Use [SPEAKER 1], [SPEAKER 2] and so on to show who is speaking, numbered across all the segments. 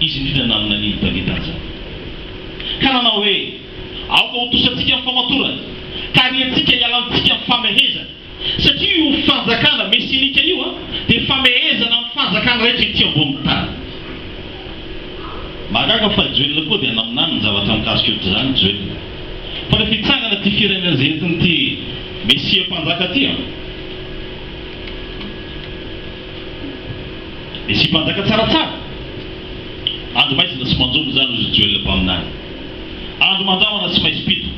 [SPEAKER 1] Izy indrindra nanana an'iny Davida izany, ka nanao hoe, Aoka ho tosantsika ny famatorana, ka ariantsika hiala amintsika ny famehezana, satria io fanjakana mesinika io dia famehezana amin'ny fanjakana rehetra ety ambonin'ny tany. Mahagaga fa i Joela koa dia naminany ny zavatra mikasika io. Tsy izany Joela, fa rehefa hitsangana ity firenena izay entin'ity Mesia Mpanjaka ity an! Misy mpanjaka tsaratsara. Andro maizina sy manjono izany hoy Joel mpaminany. Andro mandrahona sy maizim-pito.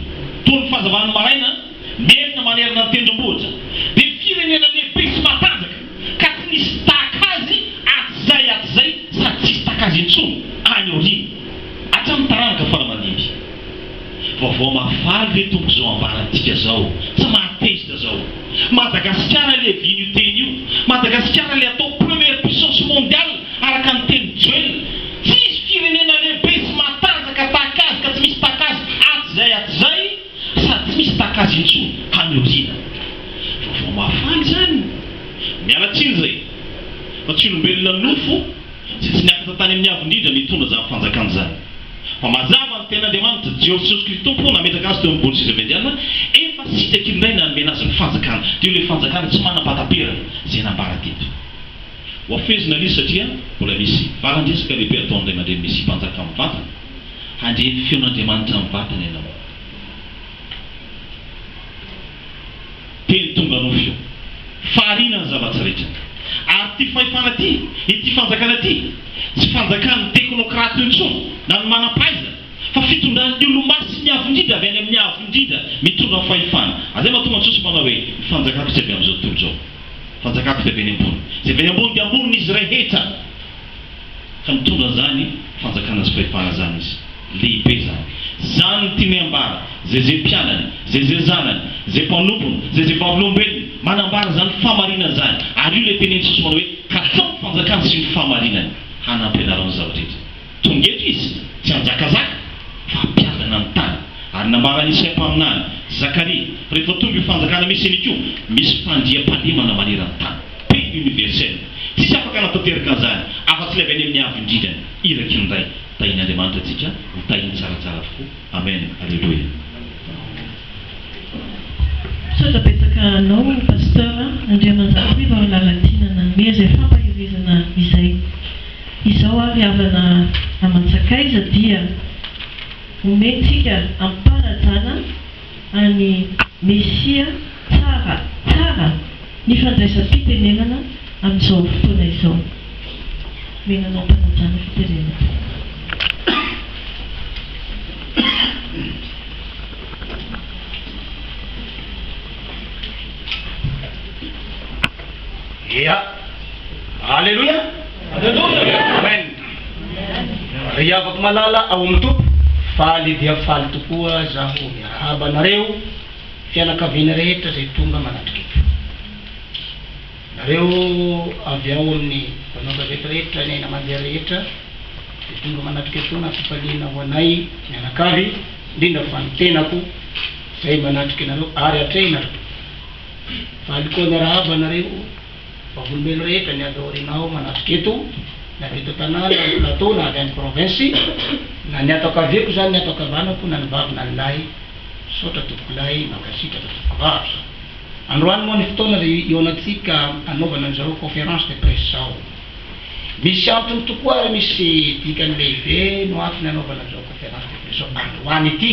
[SPEAKER 1] Toy ny fahazavan'ny maraina, merina manerana ny tendrombohitra. Dia firenena lehibe sy matanjaka, ka tsy nisy tahaka azy hatrizay hatrizay sady tsy hisy tahaka azy intsony any aoriana, hatramin'ny taranaka fara-mandimby. Vaovao mahafaly ve Tompo izao ambarantika izao? Tsy mahatezitra izao. Madagasikara ilay vino teny io. Madagasikara ilay atao première puissance mondiale araka ny tenin'i Joel. Tsisy firenena lehibe sy matanjaka tahaka azy ka tsy misy taka azy hatrizay hatrizay sady tsy misy taka azy intsony any aoriana. Vaovao mahafaly izany. Miala tsiny izay. Fa tsy olombelona nofo. Tsy niakatra tany amin'ny Avo Indrindra nitondra izany fanjakana izany. Fa mazava ny Tenin'Andriamanitra, Jeososy Kristy Tompo no nametraka Azy teo amin'ny gony seza avy andiana, efa sitraky ny Ray nanome Azy ny fanjakana. Dia io ilay fanjakana tsy manam-pahataperana, izay nambara teto. Hohafehezina ilay izy satria mbola misy valan-dresaka lehibe ataon'ny Ray aman-dReny Mesia Mpanjaka amin'ny vatany. Handre ny feon'Andriamanitra amin'ny vatany ianao. Teny tonga nofo io. Fahariana ny zava-tsy rehetra. Ary ity fahefana ity, ity fanjakana ity, tsy fanjakan'ny teknokrata io intsony, na ny manam-pahaizana, fa fitondran'ny olomasin'ny Avo Indrindra, avy any amin'ny Avo Indrindra, mitondra ny fahefana. Izay mahatonga ny sosy manao hoe, Ny fanjakako tsy avy amin'izao tontolo izao. Ny fanjakako dia avy any ambony. Izay avy any ambony dia ambony izy rehetra. Ka nitondra zany fanjakana sy fahefana zany izy. Lehibe zany. Zany ny tiany ambara. Zay zay mpianany, zay zay zanany, zay mpanompony, zay zay vavolombelony, manambara zany fahamarinana zany. Ary io ilay tenen'i Jesosy manao hoe, Katsao ny fanjakany sy ny fahamarinany, hanampy anareo ny zava-drehetra. Tonga eto izy, tsy hanjakazaka, fa hampiadana ny tany. Ary nambaran'i Isaia mpaminany, Zakaria, rehefa tonga io fanjakana mesianika io, misy fandriampahalemana maneran-tany. Prix universel. Tsisy afaka hanatanteraka an'izany afa-tsy ilay avy any amin'ny Avo indrindrany, iraky ny Ray. Tahin' Andriamanitra antsika ho tahiny tsaratsara tokoa. Amen. Aleloia.
[SPEAKER 2] Misaotra betsaka anao Pasteur a, Andriamanjatoivo amin'ny lalan'ny fiainana hanome izay fampaherezana izay. Izao ary havana aman-tsakaiza dia omentsika am-panajana. an'i Mesia tsara tsara ny fandraisam-pitenenana amin'izao fotoana izao. Omena anao mpanajana fitenenana.
[SPEAKER 3] Ry havako malala ao amin'ny Tompo, faly dia faly tokoa zaho miarahaba anareo fianakaviana rehetra izay tonga manatr'keto. Nareo avy ao amin'ny mpanao-gazety rehetra, ny hainamandihy rehetra izay tonga manatr'keto nampifaliana ho anay mianakavy, indrindra fa ny tenako izay manatrika anareo ary atrehina ary faly koa miarahaba anareo. Vavolombelon rehetra ny avy aoriana ao manatrika eto, na avy eto an-tanàna, na any plateau, na avy any province, na ny ato ankaviako izany, ny ato ankavanako, na ny vavy na ny lahy, misaotra tompokolahy, mankasitraka tompokovavy. Androany moa ny fotoana izay ihaonantsika hanaovana an'izao conférence de presse izao. Misy antony tokoa ary misy dikany lehibe no antony hanaovana an'izao conférence de presse izao androany ity.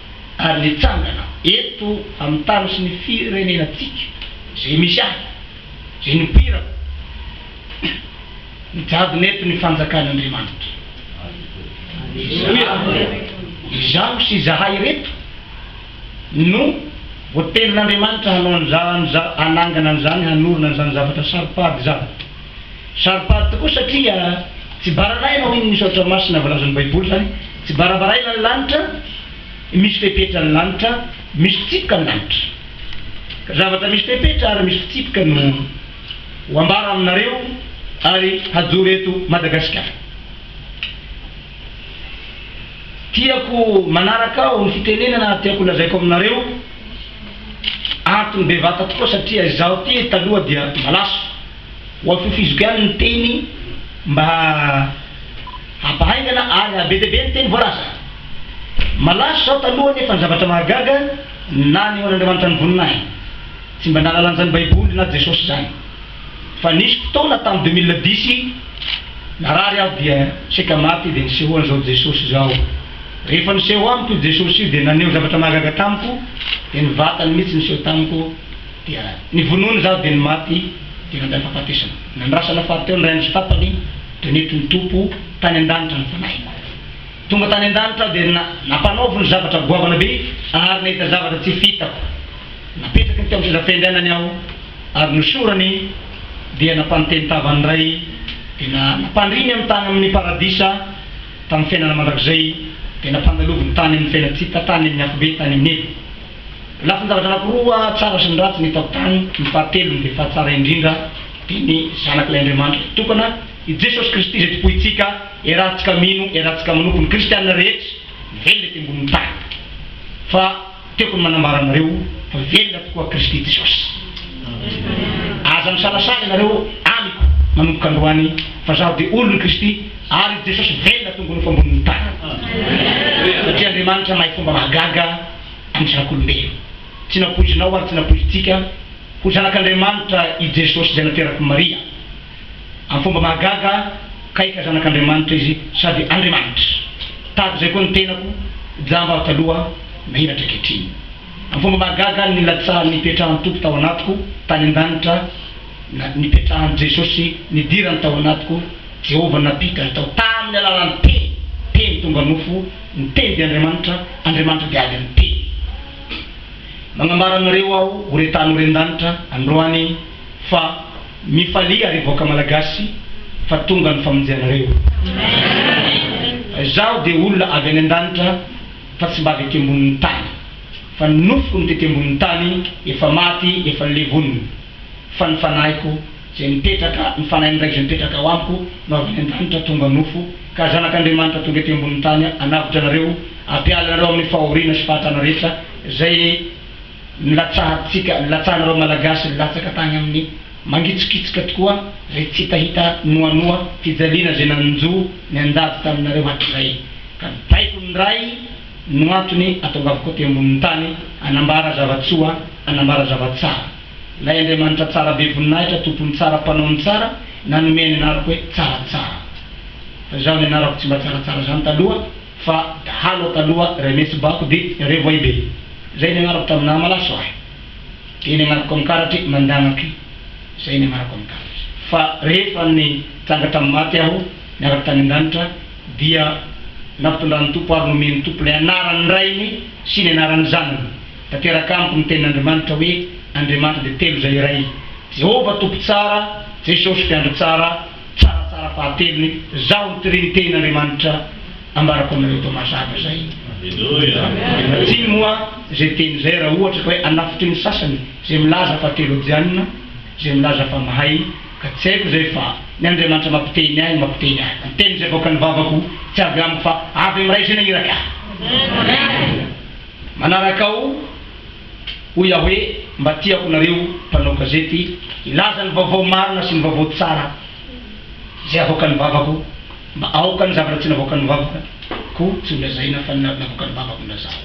[SPEAKER 3] ary nitsangana eto amin'ny tany sy ny firenenantsika izay misy ahy, izay nipoirako, nijadona eto ny fanjakan'Andriamanitra. Izaho sy izahay ireto no voatenin'Andriamanitra hanao an'izany, hanangana an'izany, hanorina an'izany zavatra saropady izany. Saropady tokoa satria tsy baranay no hino ny soratra masina voalazan'ny Baiboly izany. Tsy barabaraina ny lanitra, misy fepetra ny lanitra, misy fitsipika ny lanitra. Zavatra misy fepetra ary misy fitsipika no ho ambara aminareo ary hajoro eto Madagasikara. Tiako manaraka aho ny fitenenana ary tiako holazaiko aminareo antony bevata tokoa satria izaho ity taloha dia malaso. Ho atokizo ihany ny teny mba hampahaingana ary hahabe dia be ny teny voalaza. Malaso izaho taloha nefa ny zavatra mahagaga, nanehoan'Andriamanitra ny voniny ahy. Tsy mba nahalalan'izany Baiboly na Jesosy izany. Fa nisy fotoana tamin'ny deux mille dix narary aho dia saika maty dia niseho an'izao Jesosy izao. Rehefa niseho amiko io Jesosy io dia naneho zavatra mahagaga tamiko dia ny vatany mihitsy niseho tamiko. dia nivonoiny izaho dia ny maty dia nandray fahafatesana. Nandrasana fahateo ny rainy sy tapany dia nety nitopo tany an-danitra ny fanahiko. Tonga tany an-danitra aho dia nampanaoviny zavatra goavana be ary nahita zavatra tsy fitako. Napetraky ny teo amin'ny seza fiainganany aho ary nosorany dia nampanonteny tavany indray dia nampandriny amin'ny tany amin'ny paradisa tamin'ny fiainana mandrakizay dia nampandaloviny tany amin'ny fiaina-tsy-hita tany amin'ny afobe tany amin'ny helo. Lafin-javatra anankiroa tsara sy ny ratsy ny tao tany, ny fahatelony dia fa tsara indrindra dia ny Zanak'ilay Andriamanitra mpitokana, i Jesosy Kristy izay tompointsika, iarahantsika mino, iarahantsika manopy ny kristiana rehetra velona ety ambonin'ny tany. Fa tiako ny manambara anareo fa velona tokoa Kristy Jesosy. Aza misalasala ianareo amiko manomboka androany fa zaho dia olon'i Kristy ary i Jesosy velona tongony fo ambonin'ny tany. Satria Andriamanitra mahay fomba mahagaga. Andrianak'olombelona. Tsy nampoizinao ary tsy nampoizintsika ho Zanak'Andriamanitra i Jesosy izay naterak'i Maria. Amin'ny fomba mahagaga, kaika Zanak'Andriamanitra Izy sady Andriamanitra. Tahaka izay koa ny tenako, jamba aho taloha, menatra ankehitriny. Amin'ny fomba mahagaga, nilatsahan'ny hipetrahan'ny Tompo tao anatiko, tany an-danitra, Na nipetrahan'i Jesosy nidirany tao anatiko, Jehovah nampita ahy tao tamin'ny alalan'ny Teny, Teny tonga nofo, ny Teny dia Andriamanitra, Andriamanitra dia avy amin'ny Teny. Magnambara anareo aho, o re tany o re ndanitra, androany, fa mifalia re vahoaka Malagasy, fa tonga ny famonjenareo. Fa izaho dia olona avy any andanitra, fa tsy mba avy aty ambonin'ny tany, fa ny nofoko no tety ambonin'ny tany, efa maty, efa nilevonina. Fa ny fanahiko izay mipetraka, ny fanahin'ny Ray izay mipetraka ao amiko no avy any an-danitra tonga nofo, ka zanak'Andriamanitra tonga ety ambonin'ny tany hanavotra anareo, hampiala anareo amin'ny fahoriana sy fahatrana rehetra izay nilatsahantsika, nilatsahanareo Malagasy nilatsaka tany amin'ny mangitsokitsoka tokoa izay tsy hitahita noanoa fijaliana izay nanjo ny andady taminareo hatrizay. Ka ny baiko ny Ray. no antony atongavako aty ambonin'ny tany hanambara zava-tsoa, hanambara zava-tsara. Ilay Andriamanitra tsara be voninahitra, Tompon'ny tsara, Mpanao ny tsara, nanome ny anarako hoe Tsaratsara. Fa izaho ny anarako tsy mba tsaratsara izany taloha fa dahalo aho taloha, Raimesibako dia Revoibe. Izay ny anarako tamin'ny naha malaso ahy. Dia ny anarako amin'ny karatry Mandanaky. Izay ny anarako amin'ny karatry. Fa rehefa nitsanga tamin'ny maty aho, niaraka tany an-danitra, dia nampitondrany Tompo ary nomeny Tompo ilay anaran'ny Rainy sy ny anaran'ny Zanany. Tanteraka amiko ny tenin'Andriamanitra hoe Andriamanitra dia telo izay iray, Jehovah Tompo Tsara, Jesosy Mpiandry Tsara, Tsaratsara Fahatelony, Zaho ny Trinite n'Andriamanitra ambarako aminareo eto mazava izay. Ianaretsiny moa izay teny izay raha ohatra ka hoe anafotry ny sasany izay milaza fa teolojianina, izay milaza fa mahay, Ka tsy haiko izay fa ny Andriamanitra mampiteny ahy no mampiteny ahy. Ny teny izay avoakan'ny vavako tsy avy amiko fa avy amin'Ray izay nahiraka ahy. Manaraka aho, hoy Yahweh, mba tiako nareo mpanao gazety hilaza ny vaovao marina sy ny vaovao tsara izay avoakan'ny vavako mba aoka ny zavatra tsy navoakan'ny vavako tsy ho lazaina fa ny navoakan'ny vavako no lazao.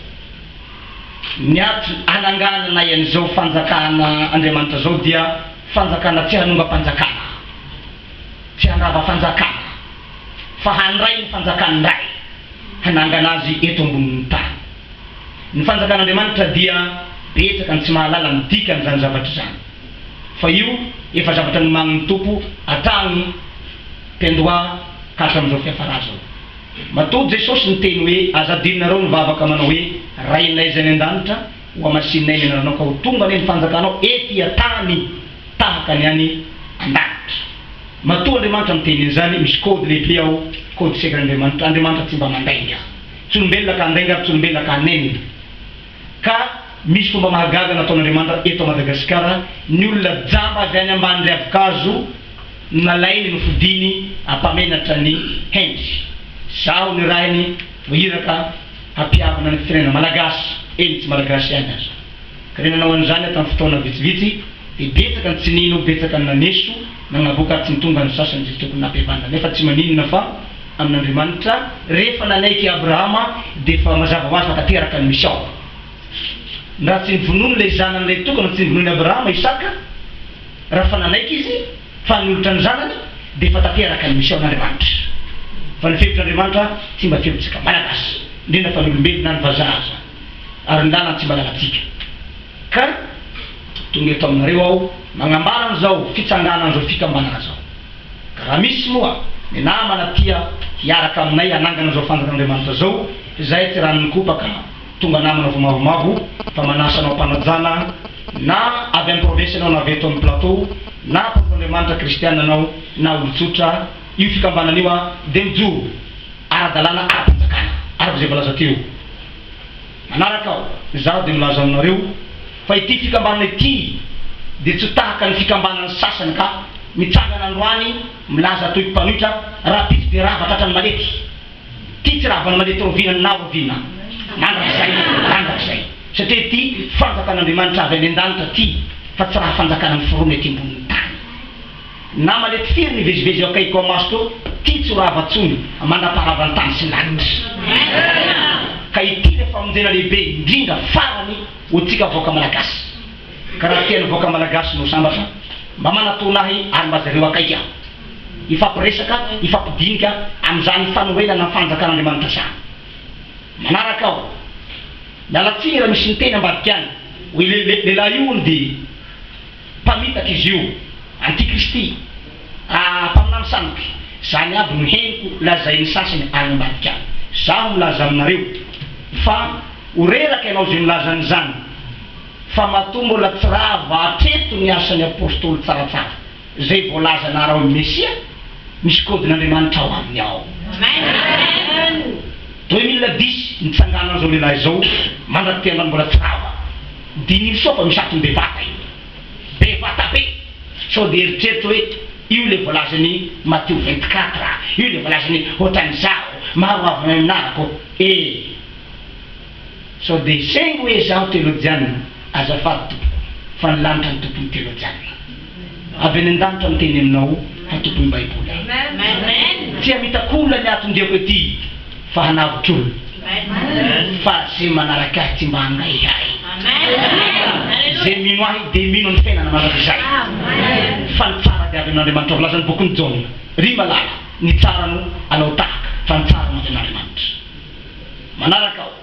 [SPEAKER 3] Ny ady anangananay an'izao fanjakana Andriamanitra izao dia fanjakana tsy hanongam-panjakana, tsy handrava fanjakana, fa handray ny fanjakan'ny Ray, hanangana azy eto ambonin'ny tany. Ny fanjakan'Andriamanitra dia betsaka ny tsy mahalala ny dikan'izany zavatra izany, fa io efa zavatra nomanin'ny Tompo hatrany taloha ka hatramin'izao fiafarà izao. Matoa Jesosy niteny hoe, Aza adinonareo ny vavaka manao hoe, Rainay izay any an-danitra, hohamasininay ny anaranao ka ho tonga anie ny fanjakanao ety an-tany tahaka ny any an-danitra. Matoa Andriamanitra miteny an'izany, misy code lehibe ao, code secret-n'Andriamanitra, Andriamanitra tsy mba mandainga tsy olombelona ka handainga ary tsy olombelona ka hanenina. Ka misy fomba mahagaga nataon'Andriamanitra eto Madagasikara, ny olona jamba avy any ambany riavon-kazo nalainy nofidiny hampamenatra ny hendry. Zaho ny rainy no iraka hampihavana ny firenena Malagasy, eny tsy Malagasy ihany aza. Ka ny nanao an'izany aho tamin'ny fotoana vitsivitsy dia betsaka ny tsy nino, betsaka ny naneso, nanavoaka ary tsy nitonga ny sasany izay tokony nampihavana. Nefa tsy maninona fa. amin'Andriamanitra, rehefa nanaiky i Abrahama dia efa mazava ho azy fa tanteraka ny misy ao. Raha tsy novonoiny ilay zanany iray tokana tsy novonoin'i Abrahama, Isaka, raha efa nanaiky izy fa hanolotra ny zanany dia efa tanteraka ny misy ao an'Andriamanitra. Fa ny fehitr'Andriamanitra tsy mba feontsika Malagasy, indrindra fa ny olombelona na ny vazaha aza. Ary ny lalany tsy mba lalantsika. Ka tonga eto aminareo aho magnambara an'izao fitsanganan'izao fikambanana izao. Ka raha misy moa ny namana tia hiaraka aminay hanangana izao fanjakan'Andriamanitra izao, izahay tsy rà mikopaka tonga namana vao mavomavo fa manasa anao mpanajana na avy any province ianao na avy eto amin'ny plateau na mpanompon'Andriamanitra kristiana anao na olon-tsotra, io fikambanana io dia mijoro ara-dalàna ara-panjakana araka izay voalaza teo. Manaraka aho, izaho dia milaza aminareo fa ity fikambanana ity dia tsy tahaka ny fikambanan'ny sasany ka mitsangana androany milaza toy mpanohitra rahampitso dia rava tratran'ny malety. Ity tsy ravan'ny malety raoviana na raoviana mandrakizay mandrakizay satria ity fanjakan'Andriamanitra avy any an-danitra ity fa tsy raha fanjakana miforona ety ambonin'ny tany. Nama le tsiry mivezivezy eo akaikiko amaso ko ty tsy ho rava tsony mandraparava ny tany sy lanitra ka ity le famonjena lehibe indrindra farany ho tsika vahoaka malagasy ka raha tiany vahoaka malagasy no sambatra mba manatona ahy ary mba jereo akaiky aho hifampiresaka hifampidinika amzany fanorenana ny fanjakan'Andriamanitra sa manaraka aho miala tsiny raha misy miteny ambadika any hoy le lehilahy io hono dia Mpamitaka izy io, antikristy, ah mpaminany sandoka, zany aby no henoko lazain'ny sasany any ambadika any. Zaho milaza aminareo fa ho reraka ianao zay milaza an'izany fa matoa mbola tsy rava hatreto ny asan'ny apostoly tsaratsara zay voalazana araho ny Mesia, misy kodin'Andriamanitra ao aminy ao. Deux mille dix nitsangana an'izao lehilahy izao mandrak'ity androany mbola tsy rava. Diniho sao fa misy antony bevata io. Bevata be. Sao dia eritreritro hoe io ilay voalazan'i Matio vingt quatre, io ilay voalazan'i Hoatran'izaho, maro ho avy naninahako e. Sao dia saingy hoe izaho teolojianina, azafady tompoko, fa ny lanitra ny tompon'ny teolojianina. Avy any an-danitra miteny aminao hatoboy ny baiboly aho. Tsy hamitak'olona ny aton-diako ety fa hanavotr'olona fa ze manaraka ahy tsy mba hangaihy ahy. Ze mino ahy dia mino ny fiainana mandrakizay fa ny tsara dia avy amin'Andriamanitra voalaza ny bokin'i Jaona. Ry malala ny tsara no alao tahaka fa ny tsara no avy amin'Andriamanitra. Manaraka aho.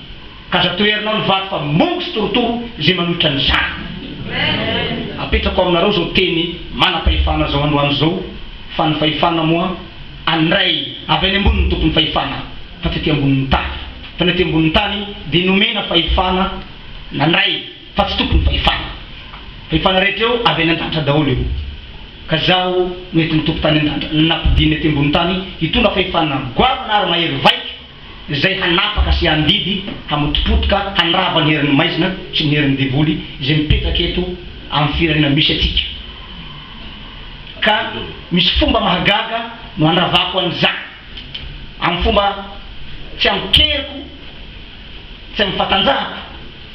[SPEAKER 3] Aza toherinao ny vato fa mongo sy torotoro izay manohitra an'izany. Apetrako aminareo izao teny manam-pahefana izao androany izao fa ny fahefana moa an'ny Ray avy any ambony ny tompon'ny fahefana fa tsy aty ambonin'ny tany. Fa ny aty ambonin'ny tany dia nomena fahefana na ny Ray fa tsy tompon'ny fahefana. Fahefana rehetra eo avy any an-danitra daholo io. Ka izaho no entin'ny tompo tany an-danitra nampidininy aty ambonin'ny tany hitondra fahefana goavana ary mahery vaika. izay hanapaka sy handidy, hamotopotoka, handrava ny herin'ny maizina sy ny herin'ny devoly izay mipetraka eto amin'ny firenena misy antsika. Ka misy fomba mahagaga no handravako an'izany, amin'ny fomba tsy amin'ny keriko, tsy amin'ny fatanjahako,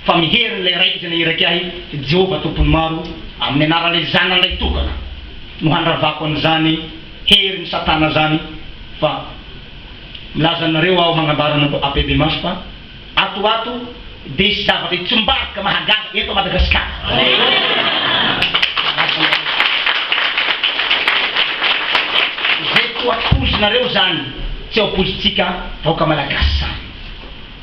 [SPEAKER 3] fa amin'ny herin'ilay Raika izay nahiraky ahy, Jehovah Tompon'ny Maro, amin'ny anaran'ilay Zanany Lahitokana no handravako an'izany herin'i Satana izany, fa. Milaza anareo aho magnambara anareo apebemasy fa ato ato dia hisy zavatra hitsombarika mahagaga eto Madagasikara. Izay toa pozinareo izany tsy ao pozintsika vahoaka Malagasy izany.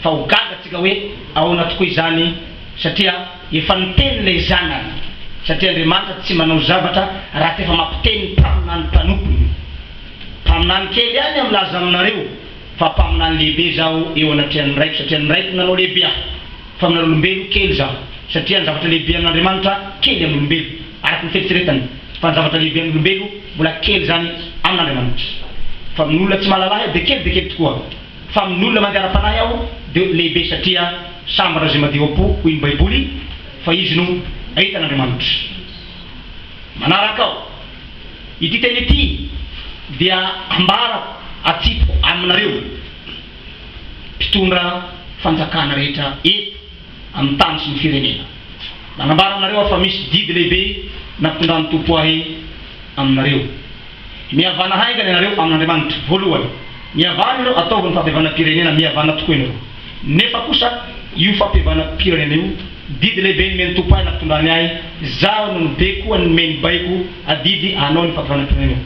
[SPEAKER 3] Fa ho gaga tsika hoe ahoana tokoa izany satria efa niteny ilay zanany satria Andriamanitra tsy manao zavatra raha tsy efa mampiteny ny mpanana ny mpanompony. Mpaminany kely ihany aho milaza aminareo fa mpaminany lehibe zaho eo anatrehan'ny Raiko satria ny Raiko no nanao lehibe ahy. Faminan'olombelo kely zaho satria ny zavatra lehibe amin'Andriamanitra kely amin'olombelo, araka ny fieritreretany, fa ny zavatra lehibe amin'olombelo mbola kely izany amin'Andriamanitra. Fa amin'olona tsy mahalala ahy aho dia kely dia kely tokoa, fa amin'olona mandeha ara-panahy aho dia lehibe satria sambatra izay madio am-po, hoy ny Baiboly, fa izy no ahitan'Andriamanitra. Manaraka ao. Ity teny ity dia ambarako atsipiko aminareo mpitondra fanjakana rehetra eto amin'ny tany sy ny firenena. Manambara aminareo aho fa misy didy lehibe nampitondran'ny Tompo ahy aminareo. Mihavana haingana ianareo amin'Andriamanitra. Voalohany, mihavana ianareo ataovy ny fahabevanam-pirenena, mihavana tokoa ianareo. Nefa kosa io fampihavanam-pirenena io didy lehibe nomen'ny Tompo ahy nampitondrany ahy, izaho no nibe koa nomey ny baiko adidy hanao ny fampihavanam-pirenena io.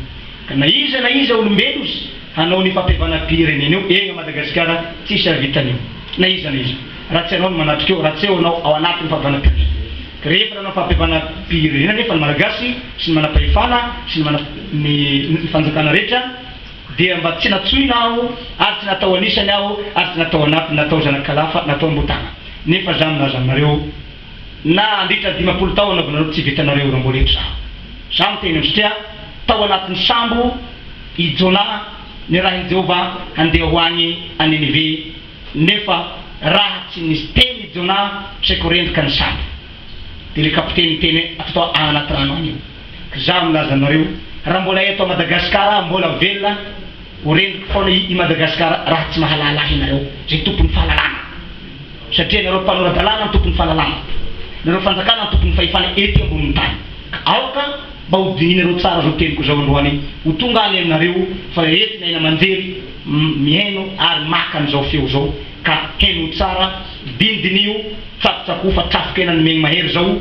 [SPEAKER 3] Ka na iza na iza olombelo ozy hanao ny fampihavanam-pirenena io egna Madagasikara tsisy ahavitany io na iza na iza raha tsy anao ny manatrika eo raha tsy eo anao ao anatin'ny fampihavanam-pirenena. Ka rehefa nanao ny fampihavanam-pirenena nefa ny Malagasy sy ny manam-pahefana sy ny manam-, ny fanjakana rehetra, Dia mba tsy natsoina aho ary tsy natao anisany aho ary tsy natao anatiny natao zanak'alafa natao ambotana nefa za milaza aminareo na handritra dimampolo tao anaovanareo tsy vitanareo io ramboly eto zaho za miteny anztria tao anatiny sambo i Jona nirahiny Jehovah handeha ho any a Ninive nefa raha tsy nisy teny i Jona saiko rendrika ny sambo dia le kapiteny niteny ato tao aanaty rano any io Za milaza anareo raha mbola eto Madagascar ah mbola velona ho rendriko foana i Madagascar raha tsy mahalala ahy nareo zay tompony fahalalana satria nareo mpanoradalana no tompony fahalalana nareo fanjakana no tompony fahefana ety amboniny tany ka aoka mba ho dininareo tsara zao teniko zao androany ho tonga any aminareo fa rehefa ny aina amanjery mihaino ary maka anizao feo zao ka heno tsara dindinio tsakotsako fa trafoka ena ny megny mahery zao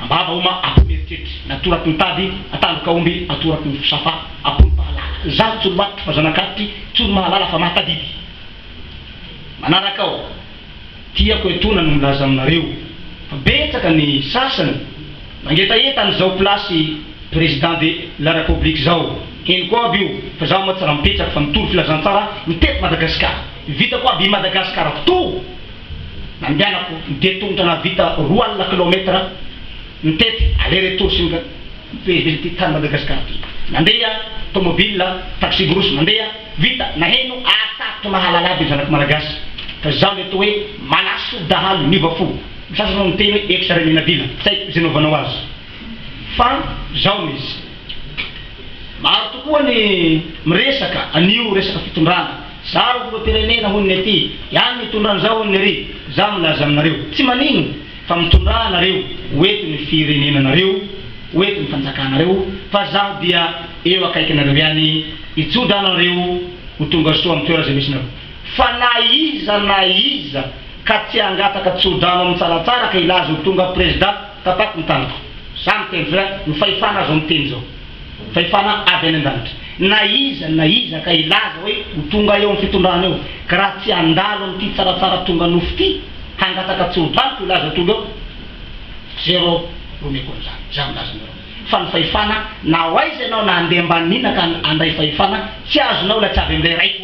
[SPEAKER 3] Ambava oma ampony eritreritry ny atoraky ny tady ataloka omby atoraky ny fsafa ampony pahalala ny zandry tsolomatotry fa zanakaditry tsolomahalala fa mahatadidy manaraka aho tiako etoana no milaza aminareo fa betsaka ny sasany mangetaheta an zao plasy president de la rapoblique zao henoko aby io fa zaho moa tsy raha mipetraka fa mitory filazantsara ny teto madagasikara vitako aby i madagasikara toa Nandehanako dia tongotra nahavita roa alina kilaometatra nitety aller retour sy ny fivezivezy ity tany Madagascar ity. Nandeha tomobile, taxi brousse mandeha, vita, naheno ary sarotra mahalala aby ny zanako malagasy fa izaho mety hoe malaso dahalo niova fo, ny sasany hono miteny hoe ex Reny Nabila, tsy haiko izay novanao azy fa zao no izy. Maro tokoa ny miresaka an'io resaka fitondrana. Za ro filoham-pirenena hono ny aty ihany mitondra an'izao hono ry za milaza aminareo tsy manino fa mitondrà anareo ho eto ny firenenanareo ho eto ny fanjakanareo fa zaho dia eo akaikinareo ihany hijodrano anareo ho tonga soa amin'ny toera zay misy nareo fa na iza na iza ka tsy hangataka tsodrano amin'ny tsaratsara ka hilaza ho tonga prezida tapako ny tanako za miteny fa ny fahefana azo miteny zao Fahefana avy any an-danitra. Na iza na iza ka hilaza hoe ho tonga eo amin'ny fitondrana eo, ka raha tsy handalo amin'ity tsaratsara tonga nofo ity, hangataka tsy ho valiko hilaza ho tonga eo. Zero romeko an'izany, za milaza aminareo fa ny fahefana, na ho aiza ianao na handeha ambanin'inona ka handray fahefana, tsy azonao ilay tsy avy amin'ilay Raiko.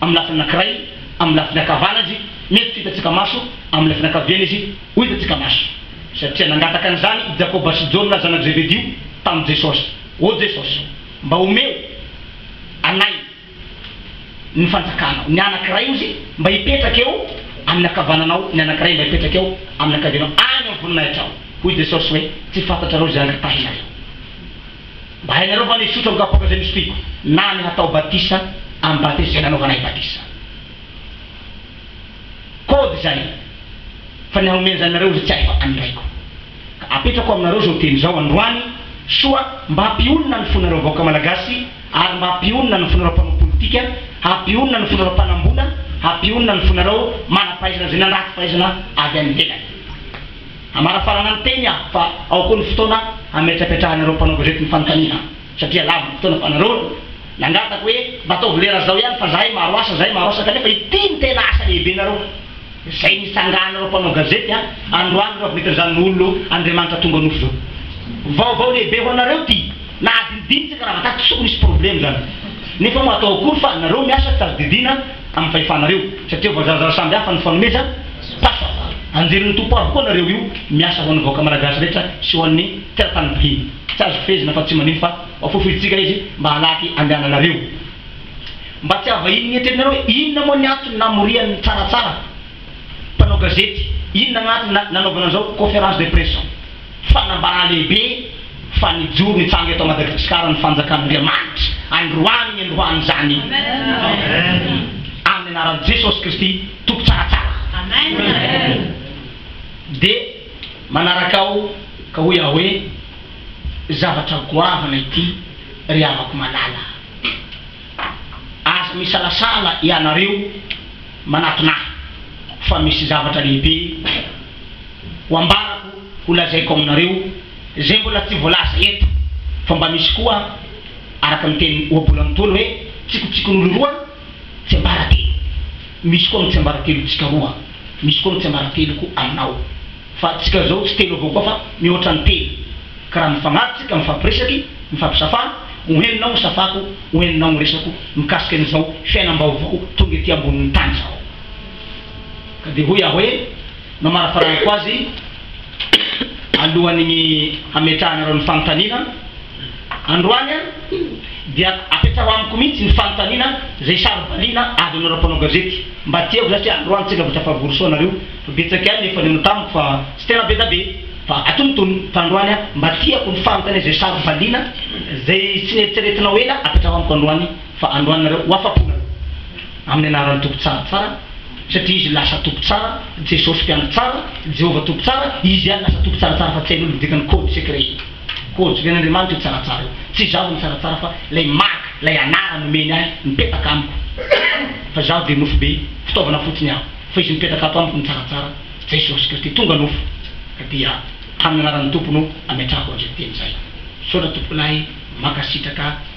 [SPEAKER 3] amin'ny lafiny anankiray, amin'ny lafiny ankavanana izy, mety tsy hitantsika maso, amin'ny lafiny ankaviana izy, ho hitantsika maso. Satria nangataka an'izany i Jakoba sy Jaona zanak'i Zebedio tamin'i Jesosy, Ô Jesosy, mba omeo anay ny fanjakanao. Ny anankiray hozy mba hipetraka eo amin'ny ankavananao, ny anankiray mba hipetraka eo amin'ny ankavianao, any amin'ny voninahitrao. Hoy Jesosy hoe, Tsy fantatrareo izay angatahinareo. Mba hainareo fa ny hisotro amin'ny kapoaka izay nosotroiko, na ny hatao batisa amin'ny batisa izay nanaovana ahy batisa. Kôdy izany fa ny hanome an'izany anareo izay tsy ahy fa an'ny Raiko. Ka apetrako aminareo izao teny izao androany soa mba hampionona ny fonareo vahoaka Malagasy ary mba hampionona ny fonareo mpanao politika, hampionona ny fonareo mpanam-bola, hampionona ny fonareo manam-pahaizana izay nandrato fahaizana avy any ivelany. Hamarafarana ny teny aho fa ao koa ny fotoana hametrapetrahanareo mpanao gazety ny fanontaniana satria lava ny fotoana fa nareo no nangataka hoe mba ataovy lera zao ihany fa zahay maro asa zahay maro asa kanefa ity no tena asa lehibenareo zay nitsanganareo mpanao gazety a androany ireo avy netin'izany olo Andriamanitra tonga nofo zao vaovao lehibe ho anareo ty na adinodino tsika raha vataty tsy tokony hisy probleme zany nefa moa atao akory fa nareo miasa tadidiana amin'ny fahefanareo satria voazarazara samby hafa ny fanomezana Tafavoaka. Anjelin'ny Tompo avokoa nareo io miasa ho an'ny vahoaka Malagasy rehetra sy ho an'ny teratany mpihina. Tsy azo fehezina fa tsy manino fa foifointsika izy mba halaky andehananareo. Mba tsy havahinin'ny eritreretinareo hoe inona moa ny antony namorian'ny tsaratsara mpanao gazety, inona ny antony nanaovana an'izao conference de presse zao. Fanambana lehibe fa nijoro nitsanga eto Madagsikara ny fanjakan'Andriamanitra androany niandohan'izany amin'ny anaran'i Jesosy Kristy Tompo tsaratsara. Dia manaraka aho ka hoy aho hoe, Zavatra goavana ity ry havako malala. azo misalasala ianareo manatona ahy fa misy zavatra lehibe ho ambarako ho lazaiko aminareo zay mbola tsy voalaza eto fa mba misy koa araka ny teny ohabolany tony hoe tsikotsikon'olo roa tsiambaratelo misy koa mitsiambaratelo tsika roa misy koa mitsiambarateloko aminao Fa antsika zao tsy telo avao koa fa mihoatra ny telo ka raha mifagnaja tsika mifampiresaky mifampisafa ho henonao ny safako ho henonao ny resako mikasika an izao fiainambaovao tonga ety ambonin'ny tany zao ka dia hoy aho hoe namarafaranako azy alohan'ny hametrahanareo ny fanontaniana Androany ary dia apetraho amiko mihitsy ny fanontaniana izay saro-baliana avy aminareo mpanao gazety mba tiako izany satria androany tsy engavitra fa vory soa nareo fa betsaka ihany ny efa nihaona tamiko fa tsy tena be da be fa atonontonony fa androany aho mba tiako ny fanontaniana izay saro-baliana izay tsy neritreretinao ela apetraho amiko androany fa androany nareo ho afa-po nareo amin'ny anaran'ny Tompo tsara tsara satria izy lasa Tompo tsara Jesosy mpiandry tsara Jehovah Tompo tsara izy ihany lasa Tompo tsara tsara fa tsy hain'olona ny dikan'ny code secret Hojoin' Andriamanitra io tsaratsara io. Tsy izaho no tsaratsara fa ilay mark, ilay anarana omeny ahy mipetaka amiko. Fa izaho dia nofo be, fitaovana fotsiny aho. Fa izy mipetaka ato amiko ny tsaratsara, Jesosy Kristy. Tonga nofo, ka dia tamin'ny anaran'ny Tompo no ametrahako an'izay teny izay. Misaotra tompokolahy, mankasitraka.